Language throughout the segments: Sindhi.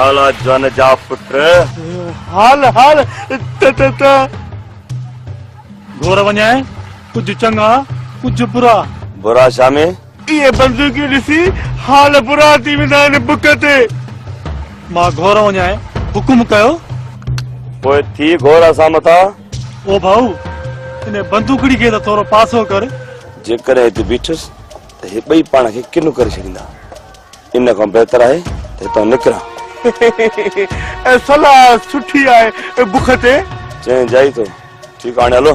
ڀالا جن جا پٽ حال حال ته ته ته گهور وڃائي ڪجهه چڱا ڪجهه برا برا شامي اهي بندوقيون ڏسي حال برا ٿي ويندا آهن بک تي مان گهور وڃائي حڪم ڪيو پوء ٿي گهور اسان مٿان او ڀائو، انهيء بندوقڙي کي ته ٿورو پاسو ڪر. جيڪڏهن هتي بيٺس ته هي ٻئي پاڻ کي ڪنو ڪري ڇڏيندا. ان کان بهتر آهي ته هتان نڪران. اهي صلاح سٺي آهي بک تي. چئين جائي ٿو. ٺيڪ آ هاڻي هلو.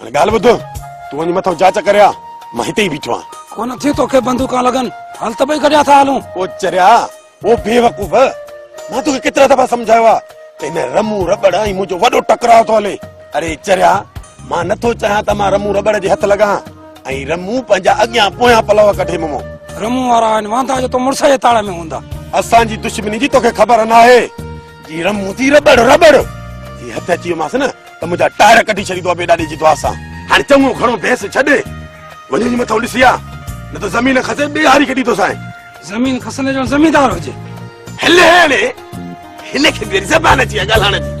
هاڻي ڳالهه ٻڌ تون وڃي مٿو جاچ ڪري آ مان هتي ئي بيٺو آهيان ڪونه ٿي توکي بندوقان لڳن هل ته ٻئي گڏيا ٿا هلون او چريا او بيوقوف مان توکي ڪيترا دفعا سمجهايو آ ته هن رمو رٻڙ ۽ منهنجو وڏو ٽڪراء ٿو هلي اري چريا مان نٿو چاهيان ته مان رمو رٻڙ جي هٿ لڳان ۽ رمو پنهنجا اڳيان پويان پلو ڪڍي ممو رمو وارا آهن واندا جو تو مڙس جي تاڙ ۾ هوندا اسان جي دشمني جي توکي خبر ناهي جي رم هوندي رٻڙ رٻڙ جي هٿ اچي ويومانس نه ته منهنجا ٽائر ڪڍي ڇڏيندو ابي ڏاڏي جي دعا سان هاڻي چڱو گهڻو بحث ڇڏ وڃي جي مٿو ڏسي آ نه ته زمين کسي ٻي هاري کي ڏيندوسانء زمين کسندي جو زميندار هجي هل هاڻي هن کي به زبان اچي آ ڳالهائڻ جي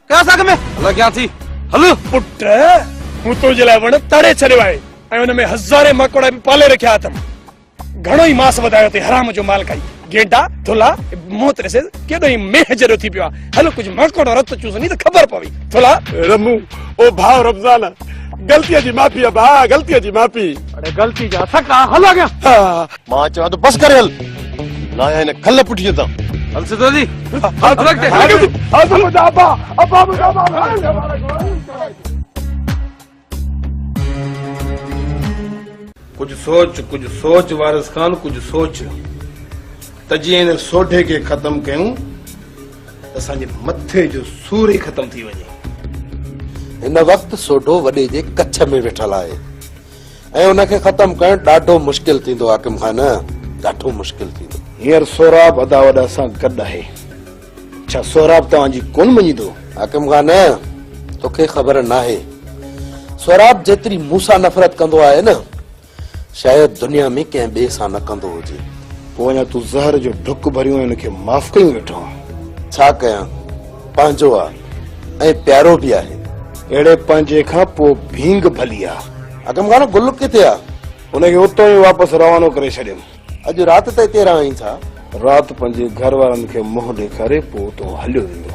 ڪراس اڳ ۾ هلان ڪيان ٿي هل. پٽ مون تنهنجي لاء وڻ تڙي ڇڏيو آهي ۽ ان ۾ هزارين ماڪوڙا به پالي رکيا اٿم. گهڻو ئي ماس وڌايو اٿئي حرام جو مال کائي. گيڊا، ٿلها، موت ڏسيس ڪيڏو ئي مينهن جهڙو ٿي پيو آهي. هل ڪجهه ماڪوڙو رت چوسندي ته خبر پوي. ٿلها. رمو، او ڀاء رمضان! غلطيء جي معافي ڀاء، غلطيء جي معافي. اڙي غلطي جا سڪا، هل اڳيان. مان چوان ٿو بس ڪري هل لاهي هن کل پٺيء تان هل سڌو جي هل ٽرڪ تي هل منهنجا ابا ابا منهنجا ابا ڪجهه سوچ ڪجهه سوچ وارث خان ڪجهه سوچ ته جيئن هن سوڍي کي ختم ڪيون ته اسان جي مٿي جو سور ئي ختم ٿي وڃي هن وقت سوڍو وڏي جي ڪڇ ۾ ويٺل آهي ۽ ان کي ختم ڪرڻ ڏاڍو مشڪل ٿيندو حاڪم خان ڏاڍو مشڪل ٿيندو. هينئر سهراب ادا وڏا سان گڏ آهي ڇا سهراب توهان جي ڪونه مڃيندو؟ حاڪم خان توکي خبر ناهي سهراب جيتري مون سان نفرت ڪندو آهي نه شايد دنيا ۾ ڪنهن ٻئي سان نه ڪندو هجي. پوء اڃا تون زهر جو ڍڪ ڀريون ۽ ان کي معاف ڪيون ويٺو آهين. ڇا ڪيان؟ پنهنجو آ ۽ پيارو به آهي. اهڙي پنهنجي کان پوء ڀينگ ڀلي آ. اگم خان گل ڪٿي آ؟ ان کي اتو ئي واپس روانو ڪري ڇڏيم. اڄ رات ته اتي رهائين ٿا؟ رات پنهنجي گهر وارن کي منهن ڏيکاري پوء اتو هليو ويندو.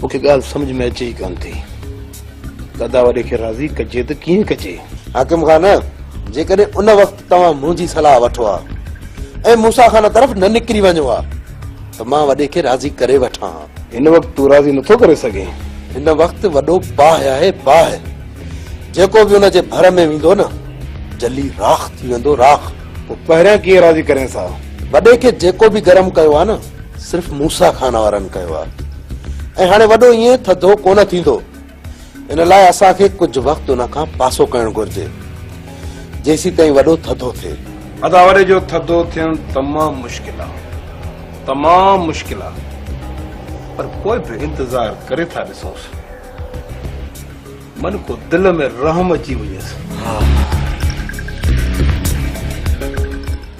مون کي ڳالهه سمجهه ۾ اچي ئي ڪانه ٿي. دادا وڏي کي راضي ڪجي ته ڪيئن ڪجي؟ حاڪم خان جيڪڏهن ان وقت. توهان منهنجي صلاح وٺو ها ۽ موسيٰ خان طرف نه نڪري وڃو ها ته مان وڏي کي راضي ڪري وٺان ها. هن وقت تون راضي نٿو ڪري سگهين. هن وقت وڏو باهه آهي باهه. جيڪو به ان جي ڀر ۾ ويندو نه جلي راک ٿي ويندو راک. پوء پهريان ڪيئن راضي ڪرينس ها. وڏي کي جيڪو به گرم ڪيو آهي نه صرف موسيٰ خان وارن ڪيو آهي ۽ هاڻي وڏو ائين ٿڌو ڪونه ٿيندو. ان لاء اسان کي ڪجهه وقت ان کان پاسو ڪرڻ گهرجي جيسين تائين وڏو ٿڌو ٿئي. ادا وڏي جو ٿڌو ٿيڻ تمام مشڪل آ تمام مشڪل آ پر پوء به انتظار ڪري ٿا ڏسونس من ڪو دل ۾ رحم اچي وڃيس.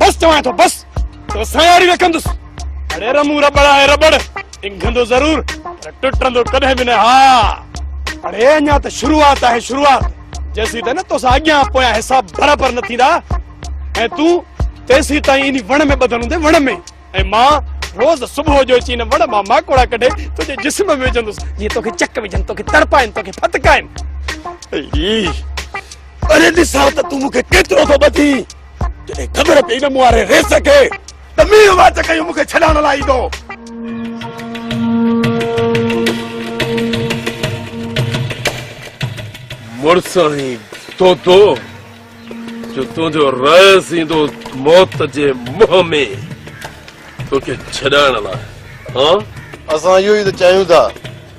بس چوان ٿو بس تو سان ياري نه ڪندس اڙي رمون ربڙ آهي ربڙ انگهندو ضرور پر ٽٽندو ڪڏهن به نه ها اڙي اڃا ته شروعات آهي شروعات جيسي ته نه تو سان اڳيان پويان حساب برابر نه ٿيندا ۽ تون تيسي تائين اني وڻ ۾ ٻڌل هوندي وڻ ۾ ۽ مان روز صبح جو اچي ان وڻ مان ماڪوڙا ڪڍي تنهنجي جسم ۾ وجهندس جيئن توکي چڪ وجهن توکي تڙپائن توکي ڦتڪائن اري ڏسان ته تون مون کي ڪيترو ٿو ٻڌي جڏهن خبر پئي نه مون واري ريس کي ته مينهن واچ ڪيو مون کي ڇڏائڻ لاء ايندو مڙساڻي تو تو جو تنهنجو رئيس ايندو موت جي منهن ۾ توکي ڇڏائڻ لاء ها؟ اسان اهو ئي ته چاهيون ٿا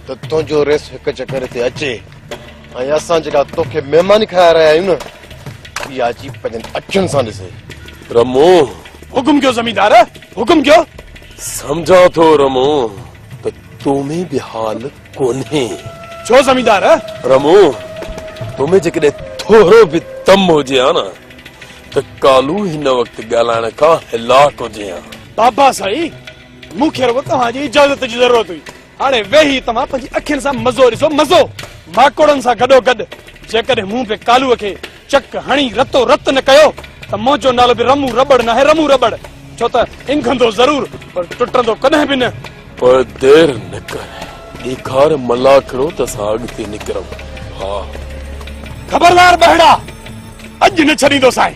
ته تنهنجو رئيس هڪ چڪر هتي اچي ۽ اسان جيڪا توکي مهماني کائي رهيا آهيون نه اها اچي پنهنجن اکين سان ڏسي رمو حڪم ڪيو زميندار حڪم ڪيو سمجهان ٿو رمو ته تو ۾ به حال ڪونهي. ڇو زميندار؟ رمو، تو ۾ جيڪڏهن ٿورو به دم هجي ها نه ته ڪالهو هن وقت ڳالهائڻ کان هلاڪ هجي ها. بابا سائين، مون کي رڳو توهان جي اجازت جي ضرورت هئي. هاڻي ويهي توهان پنهنجي اکين سان مزو ڏسو، مزو! ماڪوڙن سان گڏوگڏ جيڪڏهن مون به ڪالهوء کي چڪ هڻي رتو رت نه ڪيو ته منهنجو نالو به رمون رٻڙ ناهي رمون رٻڙ ڇو ته انگهندو ضرور پر ٽٽندو ڪڏهن به نه. پر دير نه ڪر ڏيکار ملاکڙو ته اسان اڳتي نڪرون ها. خبردار ٻهڙا اڄ نه ڇڏيندوسانء.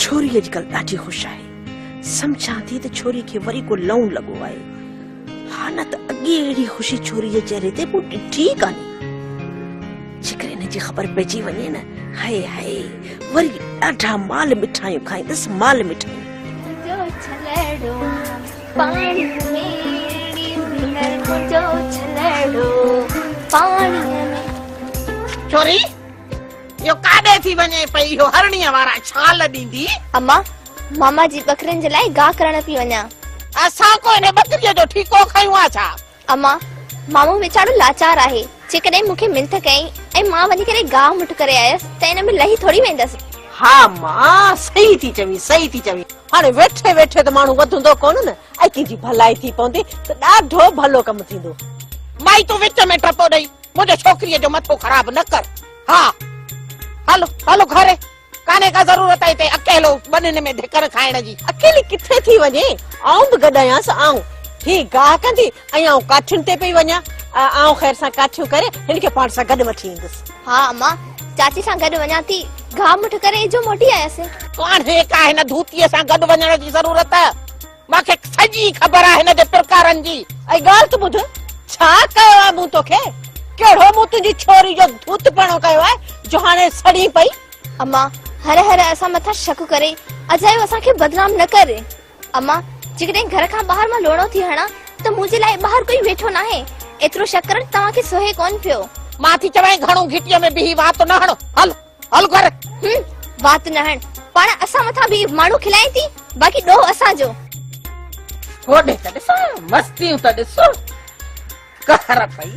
ڇوري اڄڪلهه ڏاڍي خوش آهي. سمجهان ٿي ته ڇوري کي وري ڪو لئون لڳو آهي. ها نه ته اڳي اهڙي خوشي ڇوري جي چهري تي مون ڏٺي ئي ڪانهي. جيڪر ان جي خبر پئجي وڃي نه هاء هاء وري ڏاڍا مال مٺايون کائيندس مال مٺايون ڇوري يو ڪاڏي ٿي وڃي پئي يو هرڻي وارا ڇال ڏيندي اما ماما جي ٻڪرين جي لاء گاهه ڪرڻ ٿي وڃان اسان ڪو ان ٻڪري جو ٺيڪو کنيون آ ڇا امان، مامو ويچارو لاچار آهي، جيڪڏهن مون کي منٿ ڪيائين ۽ مان وڃي ڪري گاهه مٺ ڪري آيس ته ان ۾ لهي ٿوري ويندس. ها امان، صحيح ٿي چوين، صحيح ٿي چوين. هاڻي ويٺي ويٺي ته ماڻهو وڌندو ڪونه نه، ۽ ڪنهن جي ڀلائي ٿي پوندي ته ڏاڍو ڀلو ڪم ٿيندو. مائي تون وچ ۾ ٽپو ڏئي منهنجي ڇوڪريء جو مٿو خراب نه ڪر. ها هل هل گهري ڪانهي ڪا ضرورت هتي اڪيلو ٻنين ۾ ڌڪر کائڻ جي. اڪيلي ڪٿي ٿي وڃي، آئون به گڏ آهيانس. آئون هي گاهه ڪندي ۽ آئون ڪاٺين تي پئي وڃان. آئون خير سان ڪاٺيون ڪري هن کي پاڻ سان گڏ وٺي ايندس. ها امان، چاچي سان گڏ وڃان ٿي. گاهه مٺ ڪري اجهو موٽي آياسين. ڪانهي ڪا هن ڌوتيء سان گڏ وڃڻ جي ضرورت. مان کي سڄي خبر آهي هن جي پرڪارن جي. ۽ ڳالهه ته ٻڌ، ڇا ڪيو آهي مون توکي؟ ڪهڙو مون تنهنجي ڇوري جو ڌوتپڻو ڪيو آهي جو هاڻي سڙين پئي؟ اما، هر هر اسان مٿان شڪ ڪري، اجايو اسان کي بدنام نه ڪر. اما، جيڪڏهن گهر کان ٻاهر مان لوڙهو ٿي هڻان ته منهنجي لاء ٻاهر ڪوئي ويٺو ناهي. ايترو شڪ ڪرڻ توهان کي سهي ڪونه پيو. مان ٿي چوين گهڻو گهٽيء ۾ بيهي وات نه هڻ. هل! هل گهر. هم وات نه هڻ. پاڻ اسان مٿان به ماڻهو کلائين ٿي باقي ڏوهه اسان جو. هوڏي ته ڏسو مستيون ته ڏسو قهر پئي.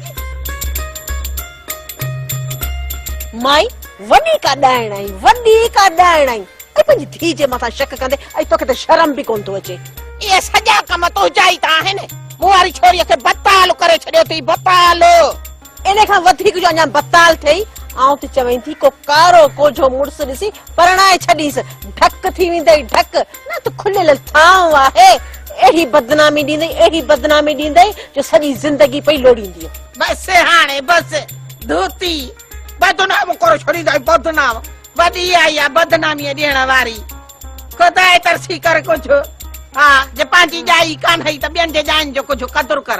مائي وڏي ڪا ڏائڻ آهي وڏي ڪا ڏائڻ آهي ۽ پنهنجي ڌيء جي مٿان شڪ ڪندي ۽ توکي ته شرم به ڪونه ٿو اچي. اهي سڄا ڪم تنهنجا ئي ته آهن. مون واري ڇوري کي بتال ڪري ڇڏيو اٿئي بتال. ان کان وڌيڪ جو اڃا بتال ٿئي، آئون تي چوين ٿي ڪو ڪارو ڪوجهو مڙس ڏسي پرڻائي ڇڏيس، ڍڪ ٿي ويندئي ڍڪ، نه ته کليل ٿانو آهي، اهڙي بدنامي ڏيندئي، اهڙي بدنامي ڏيندئي جو سڄي زندگي پئي لوڙيندينء. بس هاڻي بس، ڌوتي، بدنام ڪري ڇڏيندئي بدنام، وڏي آئي آ بدناميء ڏيڻ واري، خداء ترسي ڪر ڪجهه، ها، جي پنهنجي ڄائي ڪانهئي ته ٻين جي ڄائين جو ڪجهه قدر ڪر.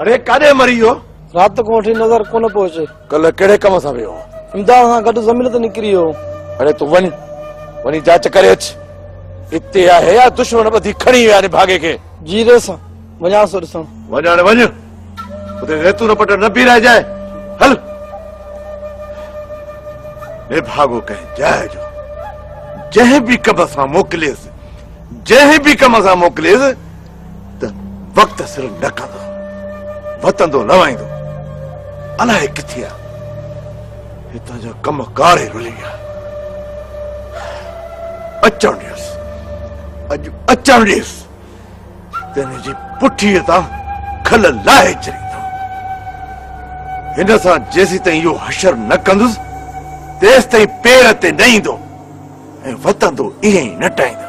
اڙي ڪاڏي مري ويو؟ رات کان وٺي نظر ڪونه پيو اچي. ڪلهه ڪهڙي ڪم سان ويو هو؟ امداد سان گڏ زمين تي نڪري ويو هو. اڙي تون وڃ، وڃي جاچ ڪري اچ. اتي آهي يا دشمن ٻڌي کڻي ويا آهن ڀاڳي کي. جي ريس، وڃان ٿو ڏسڻ. وڃ هاڻي وڃ، اتي زيتون پٽڻ نه بيهه رهجانء. هل! نڀاڳو ڪنهن جاء جو، جنهن به ڪم سان موڪليس، جنهن به ڪم سان موڪليس، ته وقت سر نه ڪندو، وتندو لوائيندو، الائي ڪٿي آ، هتان جو ڪم ڪار ئي رلي ويا. اچڻ ڏيس، اڄ اچڻ ڏيس، تنهن جي پٺي تان کل لاهي چريندو. هن سان جيسي تائين اهو حشر نه ڪندس، تيس تائين پير تي نه ايندو ۽ وتندو ائين ئي نه ٽائيندو.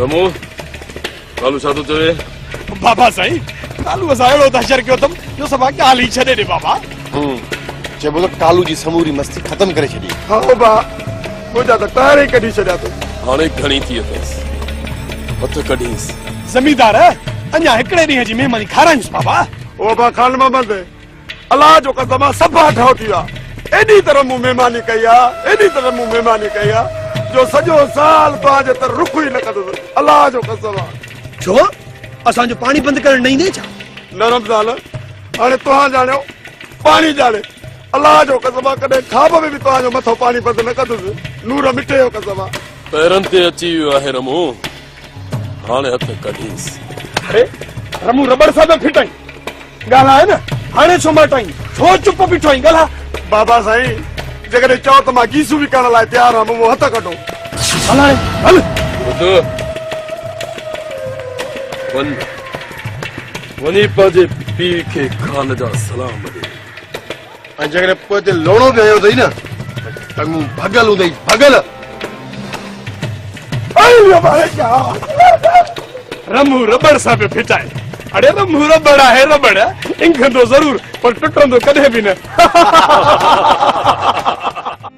رمو ڪالو ڇا ٿو چوي بابا سائين ڪالو اسان اهڙو دهشر ڪيو اٿم جو سڀا ڳالهه ئي ڇڏي ڏي بابا چئبو ته ڪالو جي سموري مستي ختم ڪري ڇڏي ها بابا منهنجا ته ٽائر ئي ڪڍي ڇڏيا اٿس هاڻي گهڻي ٿي اٿس هٿ ڪڍيس زميندار اڃا هڪڙي ڏينهن جي مهماني کارائيس بابا او بابا خان محمد الله جو قسم آ سڀ هاٺ هاء ٿي ويا. ايڏي طرح مون مهماني ڪئي آ، ايڏي طرح مون مهماني ڪئي آ جو سڄو سال توهان جي تر رخ ئي نه ڪندس. الله جو قسم آ. ڇو؟ اسان جو پاڻي بند ڪرڻ نه ايندين ڇا؟ نه رمضان، هاڻي توهان ڄاڻيو، پاڻي ڄاڻي. الله جو قسم آ ڪڏهن خواب ۾ به توهان جو مٿو پاڻي بند نه ڪندس. نور مٺي جو قسم آ. پيرن تي اچي ويو آهي رمون. هاڻي هٿ ڪڍيس. اري رمون رٻڙ سان پيو ڦٽائين. ڳالهاء نه. هاڻي ڇو ماٽائين. ڇو چپ بيٺو آهين. ڳالهاء. بابا سائين جيڪڏهن چئو ته مان گيسو وڪڻڻ لاء تيار آهيان مون هٿ ڪڍو. هل هاڻي هل. ٻڌ وڃ وڃي پنهنجي پيء کي خان جا سلام ڏي. ۽ جيڪڏهن پوء تي لوڙو به هنيو اٿئي نه ٽنگون ڀڳل هوندئي ڀڳل رمو ربڙ سان پيو ڦٽائي اڙي رمو ربڙ آهي ربڙ انگهندو ضرور پر ٽٽندو ڪڏهن به نه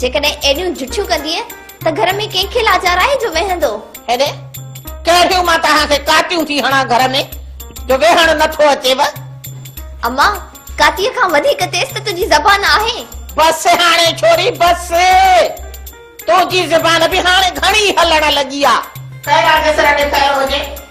جيڪڏهن ايڏيون جٺيون ڪندينء ته گهر ۾ ڪنهن کي لاچار آهي جو ويهندو؟ هيڏي، ڪهڙيون مان توهان کي ڪاتيون ٿي هڻان گهر ۾، جو ويهڻ نه ٿو اچيو؟ اما، ڪاتيء کان وڌيڪ تيز ته تنهنجي زبان آهي. بس هاڻي ڇوري، بس! تنهنجي زبان به هاڻي گهڻي هلڻ لڳي آ. سيرا جي سر ڏٺل هجي.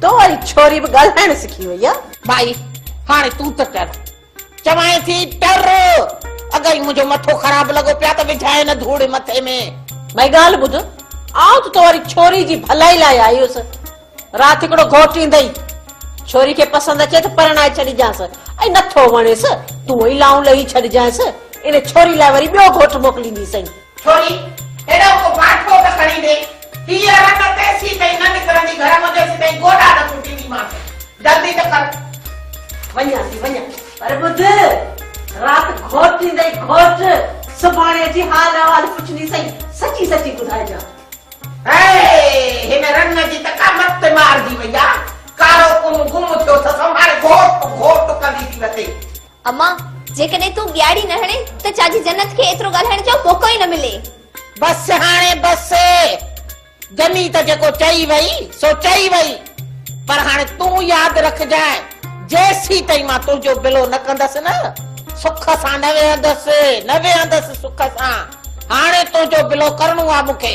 تو واري ڇوري به ڳالهائڻ سکي وئي آ. ٻائي، هاڻي تون ته ٽر. چوانء ٿي ٽر. اگهي ئي منهنجو مٿو خراب لڳو پيا ته وجهانء نه ڌوڙ مٿي ۾. ٻائي ڳالهه ٻڌ، آئون ته تو واري ڇوري جي ڀلائي لاء آئي هيس. رات هڪڙو گهوٽ ايندئي. ڇوري کي پسند اچي ته پرڻائي ڇڏجانس ۽ نٿو وڻيس تون ئي لائون لهي ڇڏجانس. ان ڇوري لاء وري ٻيو گهوٽ موڪلينديسئين. ڇوڙي هيڏانهن ڪو باٺو ته کڻي ڏي. هيء رت تيسين تائين نه نڪرندي گهر مان تيسين تائين گوڏا نه ڪٽينديمانس. جلدي ته ڪر. وڃان ٿي وڃان پر ٻڌ رات گهوٽ ايندئي گهوٽ. سڀاڻي اچي حال احوال پڇندي سائين سچي سچي ٻڌائجان. هيء هن رنگ جي ته ڪا مت مارجي وئي آ. ڪارو ڪم گم ٿيو اٿس هو هاڻي گهوٽ گهوٽ ڪندي ٿي وتي. اما، جيڪڏهن تون ٻياڙي نه هڻين ته چا جي جنت کي ايترو ڳالهائڻ جو موقعو ئي نه ملي. بس هاڻي بس. جني ته جيڪو چئي وئي سو چئي وئي. پر هاڻي تون ياد رکجانء جيسين تائين مان تنهنجو بلو نه ڪندس نه سک سان نه ويهندس نه ويهندس سک سان. هاڻي تنهنجو بلو ڪرڻو آ مون کي.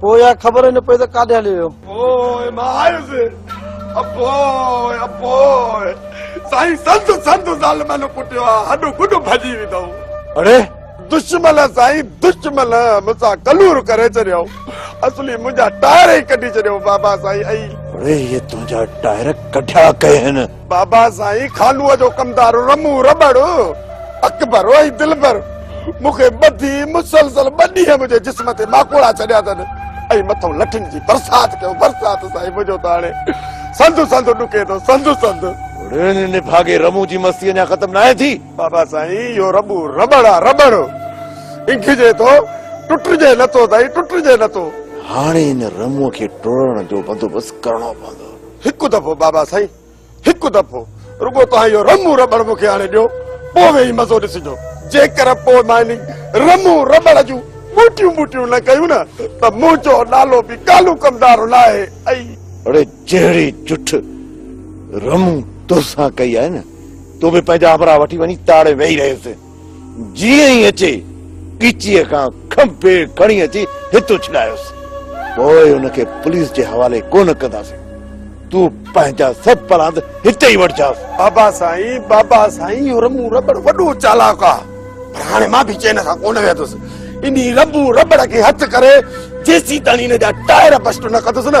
پوء اها خبر ئي نه پئي ته ڪاڏي هلي ويو. پوء مان آيس ۽ پوء ۽ پوء سائين سنڌ سنڌ ظالمن ڪٽيو آ هڏ گڏ ڀڄي ويندؤ. اڙي دشمل سائين دشمل مون سان ڪلور ڪري ڇڏيو اصلي منهنجا ٽائر ئي ڪڍي ڇڏيو بابا سائين ۽. اڙي هي تنهنجا ٽائر ڪڍيا ڪئين هن. بابا سائين خالوء جو ڪمدار رمو رٻڙ اڪبر ۽ دلبر مون کي ٻڌي مسلسل ٻه ڏينهن منهنجي جسم تي ماڪوڙا ڇڏيا اٿن ۽ مٿو لٺن جي برسات ڪيو برسات سائين منهنجو ته هاڻي سنڌ سنڌ ڏڪي ٿو سنڌ سنڌ نڀاڳي رمو جي مستي اڃا ختم ناهي ٿي بابا سائين اهو رٻو رٻڙ آ رٻڙ انگهجي ٿو ٽٽجي نٿو سائين ٽٽجي نٿو هاڻي ان رمو کي ٽوڙڻ جو بندوبست ڪرڻو پوندو هڪ دفعو بابا سائين هڪ دفعو رڳو توهان اهو رمون رٻڙ مون کي آڻي ڏيو پوء ويهي مزو ڏسجو جيڪر پوء ماني رمون رٻڙ جون ٻوٽيون ٻوٽيون نه ڪيون نه ته منهنجو نالو به ڪالو ڪمدارو نه آهي ۽ اڙي جهڙي جٺ رمون توسان ڪئي آهي نه تون به پنهنجا همراهه وٺي وڃي تاڙي ويهي رهيس جيئن ئي اچي ڳچيء کان کنڀي کڻي اچي هت اڇلايوس. پوء ان کي پوليس جي حوالي ڪونه ڪنداسين. تون پنهنجا سڀ پراند هتي ئي وٺجانس. بابا سائين، بابا سائين، اهو رنڀو رٻڙ وڏو چالاڪ آ، پر هاڻي مان به چين سان ڪونه ويهندس. انهي رنڀو رٻڙ کي هٿ ڪري جيسيتاڻي هن جا ٽائر بسٽ نه ڪندس نه،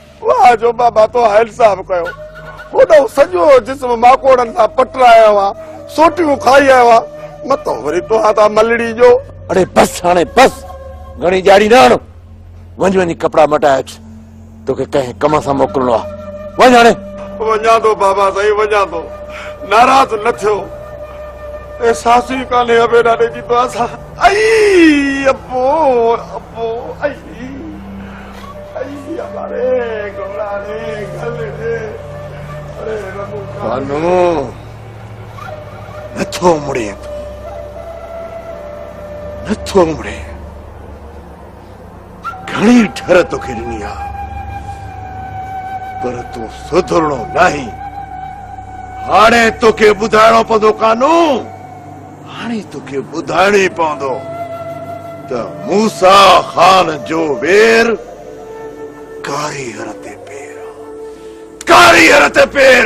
واهه جو بابا تو هائل صاحب ڪيو هوڏو سڄو جسم ماڪوڙن سان پٽرايو آ سوٽيون کائي آيو آ متو وري توهان تان ملڙي جو اڙي بس هاڻي بس گهڻي ڄاڙي نه هڻ وڃ وڃي ڪپڙا مٽائي اچ توکي ڪنهن ڪم سان موڪلڻو آ وڃ هاڻي وڃان ٿو بابا سائين وڃان ٿو ناراض نه ٿيو احساس ئي ڪانهي ابي ڏاڏي جي دعا سان اي ابو ابو اي بانو نه ٿو امڙين تون نه ٿو امڙين گهڻي ٺر توکي ڏني آ پر تون سڌرڻو ناهين هاڻي توکي ٻڌائڻو پوندو قانون هاڻي توکي ٻڌائڻو ئي پوندو ته موسيٰ خان جو وير ڪاري هر تي پير آ. ڪاري هر تي پير!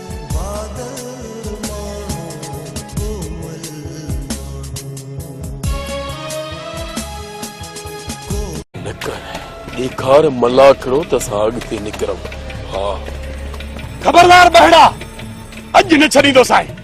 ڏيکار ملاکڙو ته اسان اڳتي نڪرون ها خبردار ٻهڙا اڄ نه ڇڏيندوسانء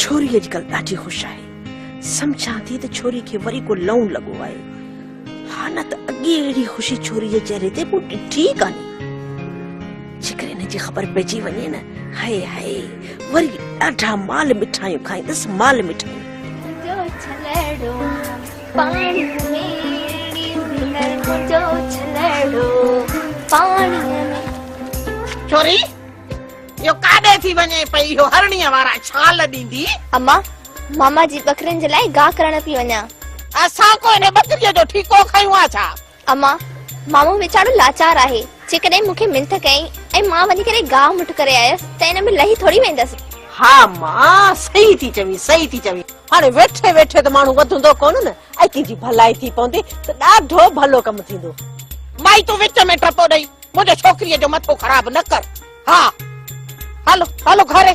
ڇوري اڄڪلهه ڏاڍي خوش آهي. سمجهان ٿي ته ڇوري کي وري ڪو لئون لڳو آهي. ها نه ته اڳي اهڙي خوشي ڇوري جي چهري تي مون ڏٺي ئي ڪانهي. جيڪر ان جي خبر پئجي وڃي نه هائي هائي وري ڏاڍا مال مٺايون کائيندس مال مٺايون. ڇوري اهو ڪاڏي ٿي وڃي پئي اهو هرڻيء وارا ڇال ڏيندي اما ماما جي ٻڪرين جي لاء گاهه ڪرڻ پئي وڃان اسان ڪو هن ٻڪريء جو ٺيڪو کنيون ها ڇا اما، مامو ويچارو لاچار آهي، جيڪڏهن مون کي منٿ ڪيائين ۽ مان وڃي ڪري گاهه مٺ ڪري آيس ته ان ۾ لهي ٿوري ويندس. ها اما، صحيح ٿي چوين، صحيح ٿي چوين. هاڻي ويٺي ويٺي ته ماڻهو وڌندو ڪونه نه، ۽ ڪنهن جي ڀلائي ٿي پوندي ته ڏاڍو ڀلو ڪم ٿيندو. مائي تون وچ ۾ ٽپو ڏئي منهنجي ڇوڪريء جو مٿو خراب نه ڪر. ها هل، هل گهري.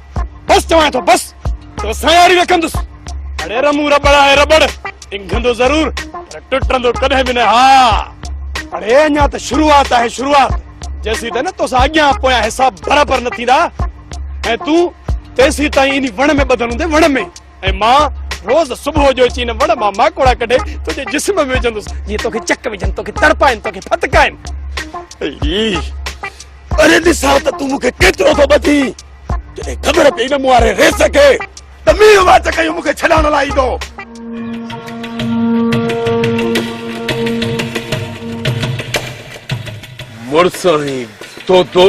بس چوان ٿو بس تو سان ياري نه ڪندس اڙي رمو ربڙ آهي ربڙ انگهندو ضرور پر ٽٽندو ڪڏهن به نه ها اڙي اڃا ته شروعات آهي شروعات جيسي ته نه تو سان اڳيان پويان حساب برابر نه ٿيندا ۽ تون تيسي تائين اني وڻ ۾ ٻڌل هوندي وڻ ۾ ۽ مان روز صبح جو اچي ان وڻ مان ماڪوڙا ڪڍي تنهنجي جسم ۾ وجهندس جيئن توکي چڪ وجهن توکي تڙپائن توکي ڦتڪائن اري ڏسا ته تون مون کي ڪيترو ٿو ٻڌي جڏهن خبر پئي نه مون واري ريس کي ته مينهن واچ ڪيو مون کي ڇڏائڻ لاء ايندو مڙس ۽ تو تو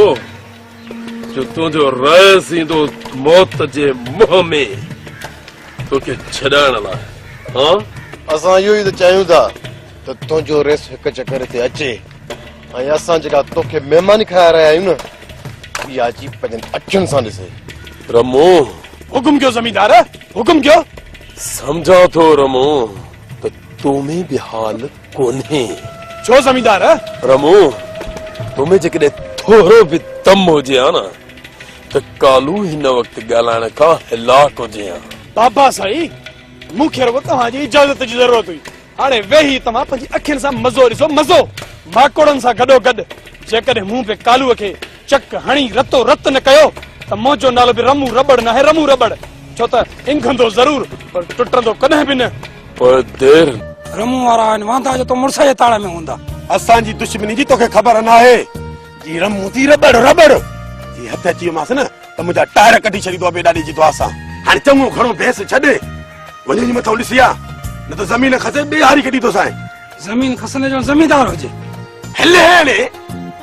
جو تنهنجو رئيس ايندو موت جي منهن ۾ توکي ڇڏائڻ لاء ها؟ اسان اهو ئي ته چاهيون ٿا ته تنهنجو رئيس هڪ چڪر هتي اچي ۽ اسان جيڪا توکي مهماني کائي رهيا آهيون نه اها اچي پنهنجن اکين سان ڏسي رمو حڪم ڪيو زميندار حڪم ڪيو سمجهان ٿو رمو ته تو ۾ به حال ڪونهي. ڇو زميندار؟ رمو، تو ۾ جيڪڏهن ٿورو به دم هجي ها نه ته ڪالهو هن وقت ڳالهائڻ کان هلاڪ هجين ها. بابا سائين، مون کي رڳو توهان جي اجازت جي ضرورت هئي. هاڻي ويهي توهان پنهنجي اکين سان مزو ڏسو، مزو! ماڪوڙن سان گڏوگڏ جيڪڏهن مون به ڪالهوء کي چڪ هڻي رتو رت نه ڪيو ته منهنجو نالو به رمون رٻڙ ناهي رمون رٻڙ ڇو ته انگهندو ضرور پر ٽٽندو ڪڏهن به نه. پر دير. رمون وارا آهن واندا جو تون مڙس جي تاڙ ۾ هوندا. اسان جي دشمني جي توکي خبر ناهي جي رمون ٿي رٻڙ رٻڙ جي هٿ اچي ويومانس نه ته منهنجا ٽائر ڪڍي ڇڏيندو ابي ڏاڏي جي دعا سان. هاڻي چڱو گهڻو بحث ڇڏ وڃ وڃي مٿو ڏسي آ نه ته زمين کسي ٻي هاري کي ڏيندوسانء. زمين کسندي جو زميندار هجي. هلي هاڻي.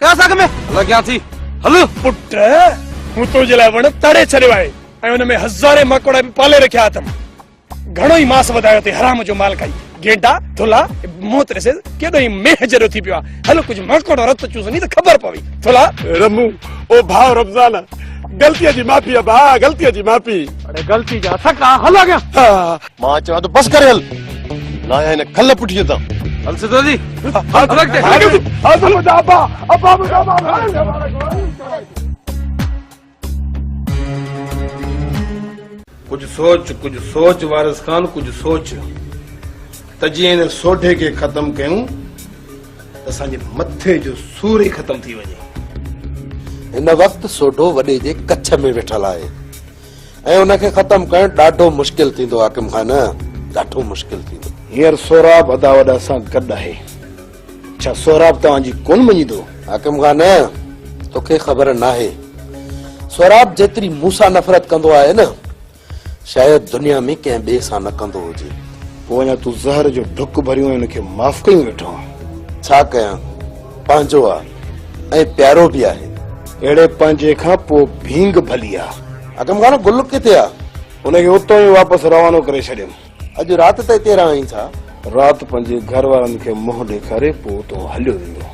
ڪلاس اڳ ۾ لڳيان ٿي هل. پٽ مون تنهنجي لاء وڻ تڙي ڇڏيو آهي ۽ ان ۾ هزارين ماڪوڙا به پالي رکيا اٿم. گهڻو ئي ماس وڌايو اٿئي حرام جو مال کائي. گيڊا، ٿلها، منهت ڏسيس ڪيڏو ئي مينهن جهڙو ٿي پيو آهي. هل ڪجهه ماڪوڙو رت چوسندي ته خبر پوي. ٿلها. رمو، او ڀاء رمضان، غلطيء جي معافي ڀاء، غلطيء جي معافي. اڙي غلطي جا سڪا، هل اڳيان. مان چوان ٿو بس ڪري هل لاهي هن کل پٺيء تان هل سڌو جي هل ٽرڪ تي هل هل ابا ابا ڪجهه سوچ ڪجهه سوچ وارث خان ڪجهه سوچ ته جي هن سوڍي کي ختم ڪيون ته اسان جي مٿي جو سور ئي ختم ٿي وڃي هن وقت سوڍو وڏي جي ڪڇ ۾ ويٺل آهي ۽ ان کي ختم ڪرڻ ڏاڍو مشڪل ٿيندو حاڪم خان ڏاڍو مشڪل ٿيندو. هينئر سهراب ادا وڏا سان گڏ آهي ڇا سهراب توهان جي ڪون مڃيندو؟ حاڪم خان توکي خبر ناهي سهراب جيتري مون سان نفرت ڪندو آهي نه شايد دنيا ۾ ڪنهن ٻئي سان نه ڪندو هجي. پوء اڃا تون زهر جو ڍڪ ڀريون ۽ ان کي معاف ڪيون ويٺو آهين. ڇا ڪيان؟ پنهنجو آ ۽ پيارو به آهي. اهڙي پنهنجي کان پوء ڀينگ ڀلي آ. اگم خان گل ڪٿي آ؟ ان کي اتو ئي واپس روانو ڪري ڇڏيم. اڄ رات ته اتي رهائين ٿا؟ رات پنهنجي گهر وارن کي منهن ڏيکاري پوء اتو هليو ويندو.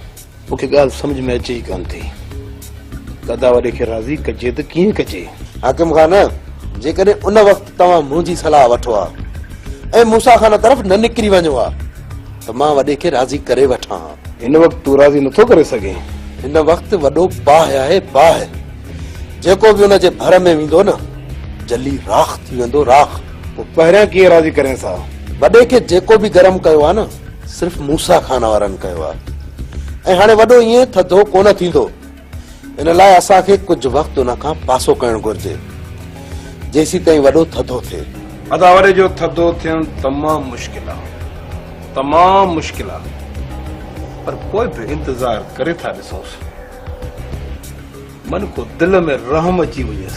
مون کي ڳالهه سمجهه ۾ اچي ئي ڪانه ٿي. دادا وڏي کي راضي ڪجي ته ڪيئن ڪجي؟ حاڪم خان جيڪڏهن ان وقت توهان منهنجي صلاح وٺو ها ۽ موسيٰ خان طرف نه نڪري وڃو ها ته مان وڏي کي راضي ڪري وٺان ها. هن وقت تون راضي نٿو ڪري سگهين. هن وقت وڏو باهه آهي باهه. جيڪو به ان جي ڀر ۾ ويندو نه جلي راک ٿي ويندو راک. پوء پهريان ڪيئن راضي ڪرينس ها. وڏي کي جيڪو به گرم ڪيو آهي نه صرف موسيٰ خان وارن ڪيو آهي ۽ هاڻي وڏو ائين ٿڌو ڪونه ٿيندو. ان لاء اسان کي ڪجهه وقت ان کان پاسو ڪرڻ گهرجي جيسيتائين وڏو ٿڌو ٿئي. اداوري جو ٿڌو ٿيڻ تمام مشڪل آ تمام مشڪل آ پر پوء به انتظار ڪري ٿا ڏسونس من ڪو دل ۾ رحم اچي وڃيس.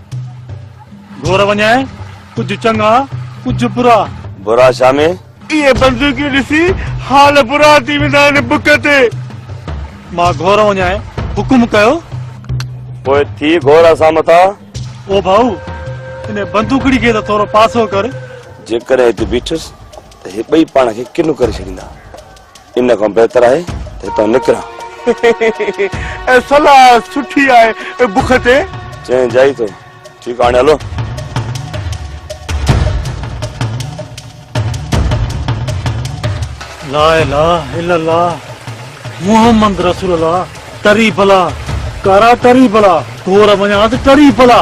گهور وڃاء ڪجهه چڱا ڪجهه برا. برا ڇا ۾؟ اهي بندوقيون ڏسي حال برا ٿي ويندا آهن بک تي. مان گهور وڃاء حڪم ڪيو. پوء ٿي گهور اسان مٿان. او ڀائو! انهي بندوقڙي کي ته ٿورو پاسو ڪر. جيڪڏهن هتي بيٺس. ته هي ٻئي پاڻ کي ڪنو ڪري ڇڏيندا. ان کان بهتر آهي ته هتان نڪران. اهي صلاح سٺي آهي اي بک تي. چئين جائي ٿو. ٺيڪ آ هاڻي هلو. لا اله الا الله محمد رسول الله ٽري بلا ڪارا ٽري بلا گور مڃان ته ٽري بلا.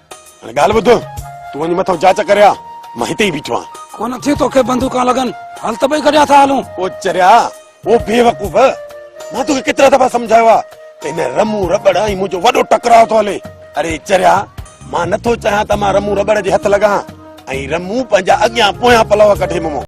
هاڻي ڳالهه ٻڌ، تون وڃ مٿو جاچ ڪري آ، مان هتي ئي بيٺو آهيان. ڪونه ٿيون توکي بندوقان لڳن، هل ته ٻئي گڏيا ٿا هلون. او چريا، او بيوقوف، مان توکي ڪيترا دفعا سمجهايو آ ته هن رمون رٻڙ ۽ منهنجو وڏو ٽڪراء ٿو هلي. اڙي چريا، مان نٿو چاهيان ته مان رمون رٻڙ جي هٿ لڳان ۽ رمون پنهنجا اڳيان پويان پلئو ڪڍي ممو.